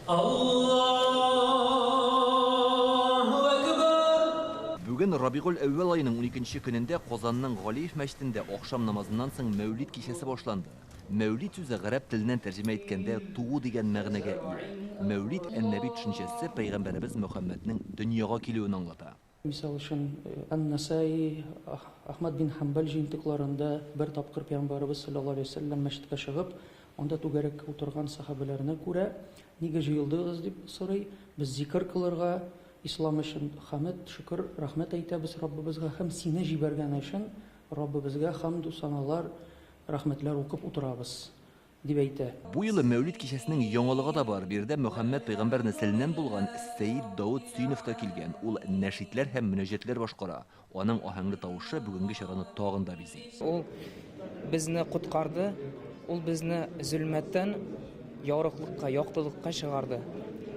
Аллаһу әкбәр! Бүген Рабигуль-әүвәл аеның уникенче көнендә Казанның Галиев мәчетендә ахшам намазыннан соң Мәүлид кичәсе башланды. Мәүлид сүзе гарәп теленнән тәрҗемә иткәндә туу дигән мәгънәгә ия. Мәүлид ән-Нәби төшенчәсе пәйгамбәребез Мөхәммәднең дөньяга килүен аңлата. Мисал өчен, Ан-Насаи, Ахмад бин Хәмбәл җыентыкларында бер тапкыр Пәйгамбәребез салләллаһу алейһи вә сәлләм мәчеткә чыгып, анда түгәрәккә утырган сәхабәләрне күрә, Нигә җыелдыгыз? дип сорый, Без зикер кылырга, Ислам өчен хәмед, шөкер, рәхмәт әйтәбез Раббыбызга һәм сине җибәргәне өчен Раббыбызга хәмду саналар, рәхмәтләр укып утырабыз. дип әйтә. Бу юлы Мәүлид кичәсенең яңалыгы да бар, биредә Мөхәммәд пәйгамбәр нәселеннән булган Сәет Даут Сөенов та килгән, ул нәшидләр һәм мөнәҗәтләр башкара, аның аһәңле тавышы бүгенге чараны тагын да бизи. Ул безне коткарды, ул безне зөлмәттән ярыклыкка, яктылыкка чыгарды.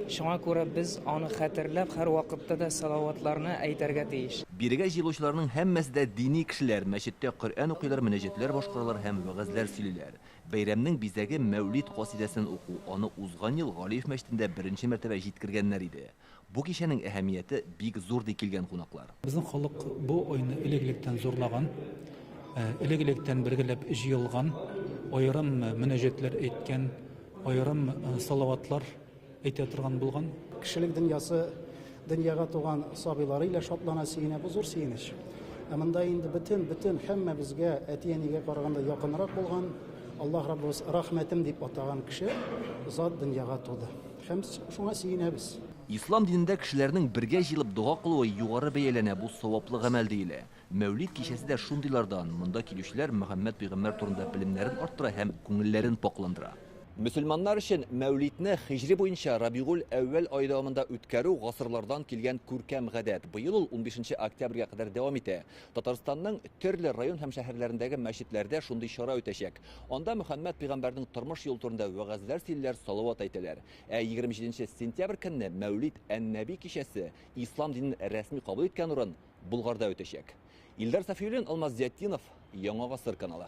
Шуңа күрә без аны хәтерләп, һәрвакытта да салаватларны әйтәргә тиеш. Бирегә җыелучыларның һәммәсе дә дини кешеләр, мәчеттә Коръән укыйлар, мөнәҗәтләр башкаралар һәм вәгазьләр сөйлиләр. Бәйрәмнең бизәге Мәүлид касыйдәсен уку, аны узган ел Галиев мәчетендә беренче мәртәбә җиткергәннәр иде. Бу кичәнең әһәмияте бик зур, ди килгән кунаклар. Безнең халык бу айны элек-электән зурлаган, элек-электән бергәләп җыелган, аерым мөнәҗәтләр әйткән, аерым салаватлар. Әйтә торган булган. Кешелек дөньясы, дөньяга туган сабыйлары илә шатлана, сөенә, бу зур сөенеч. Ә монда инде бөтен, бөтен һәммәбезгә әти-әнигә караганда якынрак булган, Аллаһ Раббыбыз рәхмәтем дип атаган кеше, зат дөньяга туды. Һәм шуңа сөенәбез. Ислам динендә кешеләрнең бергә җыелып дога кылуы югары бәяләнә, бу саваплы гамәл диелә. Мәүлид кичәсе дә шундыйлардан, монда килүчеләр Мөхәммәд пәйгамбәр турында белемнәрен арттыра һәм күңелләрен пакъландыра. Мөселманнар өчен Мәүлидне хиҗри буенча Рабигуль-әүвәл ае дәвамында үткәрү гасырлардан килгән күркәм гадәт. Быел ул унбишенче октябрьгә кадәр дәвам итә. Татарстанның төрле район һәм шәһәрләрендәге мәчетләрдә шундый чара үтәчәк. Анда Мөхәммәд пәйгамбәрнең тормыш юлы турында вәгазьләр сөйлиләр, салават әйтәләр. Ә егерме җиденче сентябрь көнне Мәүлид ән-Нәби кичәсе, ислам динен рәсми кабул иткән урын, Болгарда үтәчәк. Илдар Сафиуллин, Алмаз Зиятдинов, Яңа гасыр каналы.